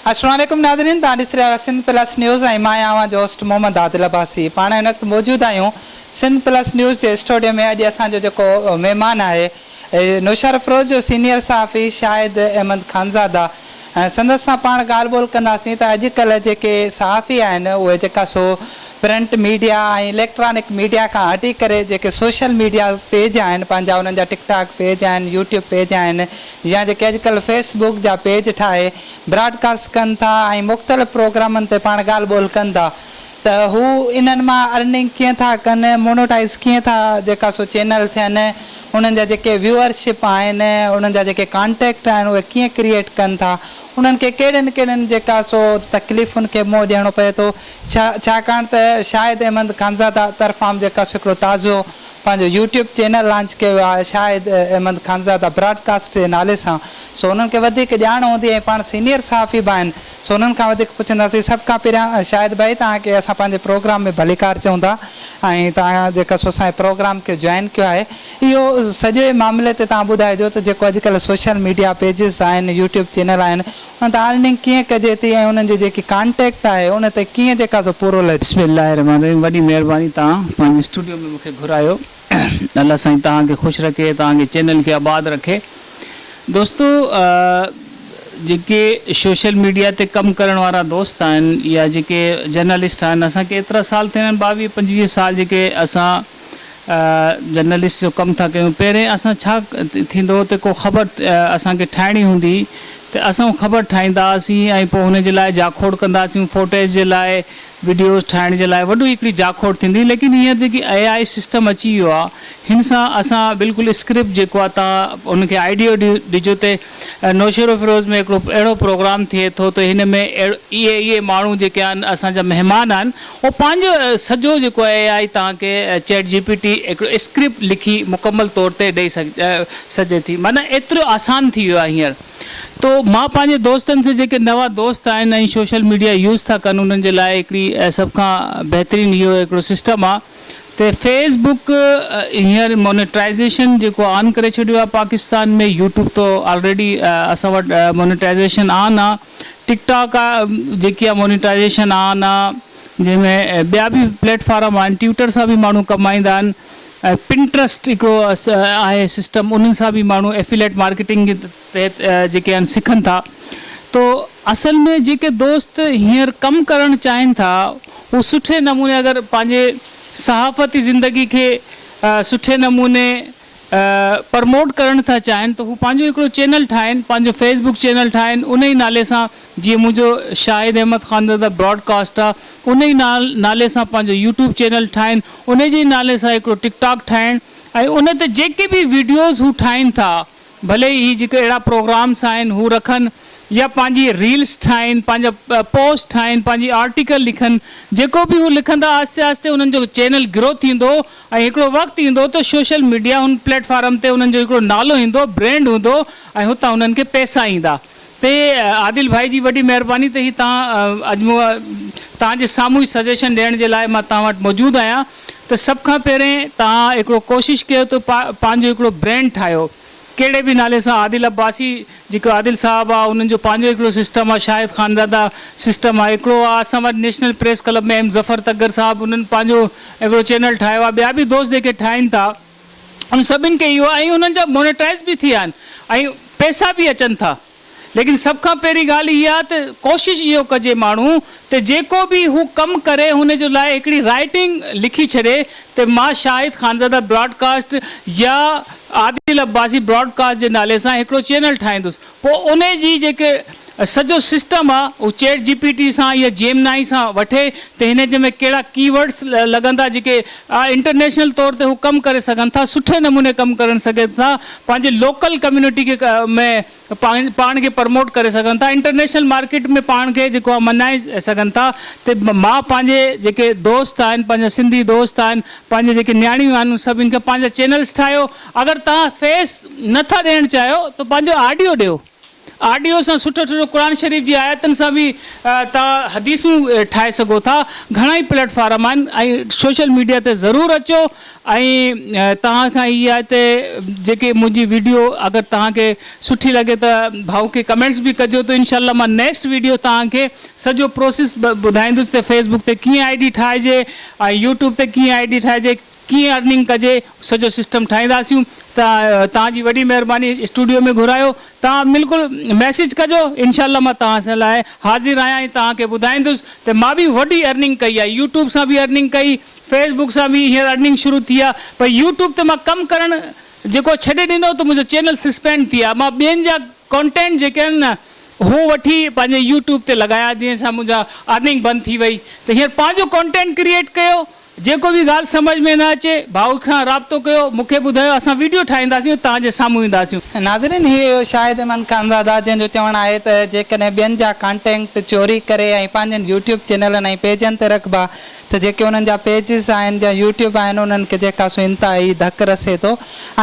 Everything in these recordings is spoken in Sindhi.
السلام عليڪم ناظرين توهان ڏسي رهيا آهيو سنڌ پلس نيوز ۽ مان آهيان اوهان جو هوسٽ محمد عادل عباسي پاڻ هن وقت موجود آهيون سنڌ پلس نيوز جي اسٽوڊيو ۾ اڄ اسان جو جيڪو مهمان آهي نوشهرافروز جو سينيئر صحافي شاهد احمد خانزاده سندس سان پاڻ ڳالهه ٻولهه ڪنداسين ته اڄڪلهه جيڪي صحافي آهن اهي جيڪا سو پرنٽ ميڊيا ۽ اليڪٽرانڪ ميڊيا کان هٽي ڪري جيڪي سوشل ميڊيا پيج آهن پنهنجا انهن جا ٽڪ ٽاڪ پيج آهن يوٽيوب پيج آهن يا جيڪي اڄڪلهه فيس بوڪ جا پيج ٺاهي براڊ ڪاسٽ ڪن ٿا ۽ مختلف پروگرامن تي پاڻ ڳالهه ٻولهه ڪن ٿا ته هو انهن مان ارننگ ڪيئن ٿا ڪن مونوٽائيز ڪيئن ٿا جيڪا سو چينل ٿين انهن جا جيڪي ويوئر شپ آهن انهن جا جيڪي ڪانٽيڪٽ آهن اهي ڪيئن ڪريئيٽ ڪن ٿا انهن کي ڪهڙين ڪهڙين جيڪا سو تڪليفن کي منهن ڏيڻو پئي ٿو ڇا ڇاڪاڻ ته شاهد احمد خانزاده طرفان به جيڪا سو هڪڙو تازو پنهنجو يوٽيوب چينل لانچ ڪيو آهي شاهد احمد خانزاده براڊ ڪاسٽ جي نالي سان سو انهن کي وڌيڪ ڄاڻ هوندي ۽ پاڻ سينيئر صحافي به آهن سو انهن کان وڌيڪ پڇنداسين سڀ کان پهريان شاهد ڀائي توهان کي اسان پنهنجي پروگرام ۾ ڀليڪار چئون ٿا ۽ توهان جيڪا سو اسان جي پروگرام کي جوائن ڪيو آهي اهو سڄي معاملي تي توهان ٻڌائجو ته جيڪو اڄڪلهه سوشل ميڊيا پيجز آهن يوٽيوب چينل آهن ان تي ارننگ ڪيئن ڪجي ٿي ۽ انهن جو جيڪي ڪانٽيڪٽ آهي ان تي ڪيئن جيڪا سو پورو لڄ. بسم الله الرحمن الرحيم وڏي مهرباني توهان پنهنجي اسٽوڊيو ۾ مونکي گهرايو الله سائين توهان کي خوش رکي توهان جي چينل کي آباد رکي دوستو جيڪي شوشل ميڊيا تي ڪم ڪرڻ وارا دوست آهن يا جيڪي جرنلسٽ آهن اسان کي ايترا سال ٿيا آهن ٻاويهه پنجويهه سال جيڪي اسان جرنلسٽ جو ڪم ٿا ڪيون پهرين اسان ڇا ٿيندو ته ڪو خبر اسان کي ٺاهڻي هوندي ته اسان خبر ٺاهيندا هئاسين ۽ پوء هن جي لاء جاکوڙ ڪندا هئاسين فوٽيج جي لاء وڊيوز ٺاهڻ جي لاء وڏي هڪڙي جاکوڙ ٿيندي هئي ليڪن هينئر جيڪي اي آء سسٽم اچي ويو آهي هن سان اسان بلڪل اسڪرپٽ جيڪو آهي تان ان کي آئيڊيو ڏجو ته نوشهروفيروز ۾ هڪڙو اهڙو پروگرام ٿئي ٿو ته هن ۾ اهي اهي ماڻهو جيڪي آهن اسان جا مهمان آهن هو پنهنجو سڄو جيڪو اي آء توهان کي چيٽ جي پي ٽي هڪڙو اسڪرپٽ لکي مڪمل طور تي ڏئي سگهجي ٿي معنيٰ ايترو آسان ٿي ويو آهي هينئر تو مان پنهنجي دوستن سي جيڪي نوان دوست آهن ۽ سوشل ميڊيا يوز ٿا ڪن انهن جي لاء هڪڙي سڀ کان بهترين اهو هڪڙو سسٽم آهي ته فيس بڪ هينئر مونيٽائيزيشن جيڪو آن ڪري ڇڏيو آهي پاڪستان ۾ يوٽيوب ته آلريڊي اسان وٽ مونيٽائيزيشن آن آ ٽڪ ٽاڪ آ جيڪي آ مونيٽائيزيشن آن آ جنهن ۾ ٻيا به پليٽ فارم آهن ٽيوٽر سان به ماڻهو ڪمائيندا آهن پنٽرسٽ هڪڙو آهي سسٽم انهن سان به ماڻهو افيليٽ مارڪيٽنگ تحت جيڪي آهن سکن ٿا تو اصل ۾ جيڪي دوست هينئر ڪم ڪرڻ چاهين ٿا هو سٺي نموني اگر پنهنجي صحافتي زندگي کي سٺي نموني پرموٽ ڪرڻ ٿا چاهين ته هو پنهنجو هڪڙو چينل ٺاهين پنهنجو فيس بڪ چينل ٺاهين ان ئي نالي سان جيئن منهنجو شاهد احمد خانزاده براڊ ڪاسٽ آ ان ئي نالي سان پنهنجو يوٽيوب چينل ٺاهين ان جي ئي نالي سان هڪڙو ٽڪ ٽاڪ ٺاهين ۽ ان تي جيڪي به ويڊيوز هو ٺاهين ٿا ڀلي ئي هي جيڪي اهڙا پروگرامس آهن هو رکن يا پنهنجي ريلس ٺاهين، پنهنجا پوسٽ ٺاهين، پنهنجي آرٽيڪل لکن، جيڪو به هو لکندا آهستي آهستي انهن جو چينل گرو ٿيندو ۽ هڪڙو وقت ايندو ته سوشل ميڊيا هن پليٽ فارم تي انهن جو هڪڙو نالو ايندو، برينڊ هوندو ۽ هتان انهن کي پئسا ايندا. تي عادل ڀائي جي وڏي مهرباني ته هي تان اڄ مون تان جي سامهون هي سجيشن ڏيڻ جي لاء مان تان وٽ موجود آهيان ته سڀ کان پهرين تان هڪڙو ڪوشش ڪيو ته پا پنهنجو هڪڙو برينڊ ٺاهيو ڪهڙي به نالي سان عادل عباسي جيڪو عادل صاحب آ انهن جو پنهنجو هڪڙو سسٽم آ شاهد خانزاده سسٽم آ هڪڙو آ اسان وٽ national press club ۾ M Zafar Tagar صاحب انهن پنهنجو هڪڙو چينل ٺاهيو آ ٻيا به دوست جيڪي ٺاهين ٿا انهن سڀني کي اهو ۽ انهن جا مونيٽائيز به ٿي آهن ۽ پئسا به اچن ٿا ليڪن سڀ کان پهرين ڳالهه اها ته ڪوشش اهو ڪجي ماڻهو ته جيڪو به هو ڪم ڪري هن جي لاء هڪڙي رائيٽنگ لکي ڇڏي ته مان شاهد خانزاده براڊڪاسٽ يا عادل عباسي براڊڪاسٽ جي نالي سان هڪڙو چينل ٺاهيندس پوء ان جي جيڪي سڄو سسٽم آ اهو چيٽ جي پي ٽي سان يا جيمنائي سان وٺي ته هن جي ۾ ڪهڙا ڪي ورڊس لڳندا جيڪي انٽرنيشنل طور تي هو ڪم ڪري سگهن ٿا سٺي نموني ڪم ڪرڻ سگهن ٿا پنهنجي لوڪل ڪميونٽي کي ۾ پاڻ کي پرموٽ ڪري سگهن ٿا انٽرنيشنل مارڪيٽ ۾ پاڻ کي جيڪو آ مڃائي سگهن ٿا ته مان پنهنجي جيڪي دوست آهن پنهنجا سنڌي دوست آهن پنهنجي جيڪي نياڻيون آهن ان سڀني کي پنهنجا چينلس ٺاهيو اگر توهان فيس نه ٿا ڏيڻ چاهيو ته پنهنجو آڊيو ڏيو. آڊيو سان سٺو سٺو قرآن شريف جي آيتن سان به توهان حديثون ٺاهي سگهو ٿا. گهڻا ئي پليٽ فارم آهن ۽ سوشل ميڊيا تي ضرور اچو ۽ توهان کان هي آهي ته جيڪي منهنجي ويڊيو اگر توهان کي سٺي لڳي ته ڀائو کي ڪمينٽس به ڪجو ته انشاء الله مان نيڪسٽ ويڊيو توهان کي سڄو پروسيس ٻڌائيندس ته فيس بڪ تي ڪيئن آئي ڊي ٺاهجي ۽ يوٽيوب تي ڪيئن آئي ڊي ٺاهجي ڪيئن ارننگ ڪجي سڄو سسٽم ٺاهينداسيون ته توهان جي وڏي مهرباني اسٽوڊيو ۾ گهرايو توهان بلڪل ميسيج ڪجو انشاء الله مان توهان سان لاء حاضر آهيان ۽ توهان کي ٻڌائيندس ته مان به وڏي ارننگ ڪئي آهي يوٽيوب سان به ارننگ ڪئي فيس بڪ سان به هينئر ارننگ شروع ٿي آهي پر يوٽيوب تي مان ڪم ڪرڻ جيڪو ڇڏي ڏنو ته منهنجو چينل سسپينڊ ٿي آهي مان ٻين جا ڪانٽينٽ جيڪي آهن نه هو وٺي پنهنجي يوٽيوب تي لڳايا جنهن سان منهنجا ارننگ بند ٿي وئي ته هينئر پنهنجو ڪانٽينٽ ڪريئيٽ ڪيو جيڪو به ڳالهه سمجهه ۾ نه اچي ڀائو کان رابطو ڪيو مون کي ٻڌايو اسان ويڊيو ٺاهينداسين توهان جي سامهون اينداسين. ناظرين هي هيو شاهد ايمان خانزاده جنهن جو چوڻ آهي ته جيڪڏهن ٻين جا ڪانٽينڪٽ چوري ڪري ۽ پنهنجن يوٽيوب چينلن ۽ پيجن تي رکبا ته جيڪي انهن جا پيجز آهن جا يوٽيوب آهن انهن کي جيڪا سو انتهائي ڌڪ رسي ٿو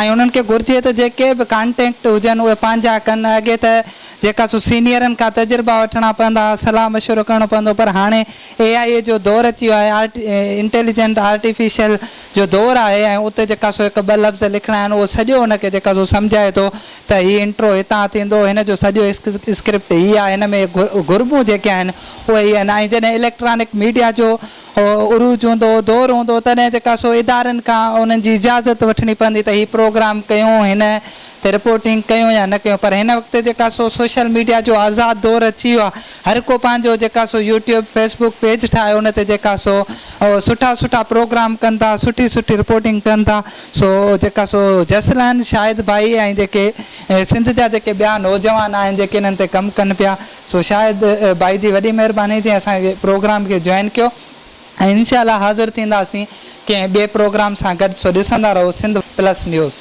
۽ انهن کي گهرجي ته جيڪي به ڪانٽينڪٽ هجن اهي پنهنجا ڪن اڳي ته جيڪا سو سينيئرن کان تجربا وٺڻا پوندا هئا صلاح مشورو ڪرڻو پوندو پر هاڻي اي آء اي جو دور اچي ويو آهي، انٽيليجنٽ آرٽيفيشل جو دور آهي ۽ اتي جيڪا سو هڪ ٻه لفظ لکڻا آهن اهو سڄو ان کي جيڪا سو سمجهائي ٿو ته هي انٽرو هتان ٿيندو، هن جو سڄو اسڪرپٽ هي آهي، هن ۾ گهربون جيڪي آهن اهي هي آهن ۽ جڏهن اليڪٽرانڪ ميڊيا جو عروج هوندو، دور هوندو تڏهن جيڪا سو ادارن کان انهن جي اجازت وٺڻي پوندي ته هي پروگرام ڪيون هن تي رپورٽنگ ڪيون يا نه ڪيون پر هن وقت جيڪا سو سوشل ميڊيا جو آزاد دور اچي ويو آهي هر ڪو پنهنجو جيڪا سو يوٽيوب فيس بوڪ پيج ٺاهي ان تي جيڪا سو سٺا سٺا پروگرام ڪن ٿا سٺي سٺي رپورٽنگ ڪن ٿا سو جيڪا سو جسلان شاهد ڀائي ۽ جيڪي سنڌ جا جيڪي ٻيا نوجوان آهن جيڪي انهن تي ڪم ڪن پيا سو شاهد ڀائي جي وڏي مهرباني جنهن اسان جي پروگرام کي جوائن ڪيو ۽ انشاء الله حاضر ٿينداسين ڪنهن ٻئي پروگرام سان گڏ سو ڏسندا رهو سنڌ پلس نيوز.